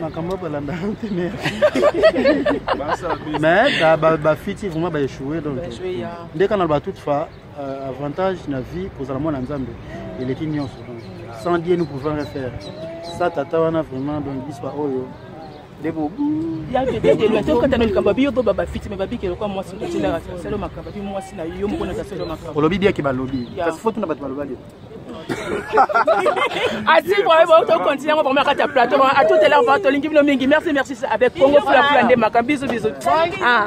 makambo balanda te mais bafiti vraiment baechoue donc nde kana loba toute fa euh, avantage na vie kozala mwana nzambe eleki nyonso donc sans die nous pouvons rien faire sa tata wana vraiment donc biso baoyo ndeko tokatana likambo babi yo to babafiti me babiki elokwa mwasi otilaka selo makambo abi mwasi na yo moko na taselo makambo olobi biaki balobi kasi fo tuna bato balobaki asi vraiment ba to continuer vraiment na kati ya plateau vraiment à tout à l'heure vraiment tolingi bino mingi merci merci avec Congo fula fula nde makambo bisous bisous ah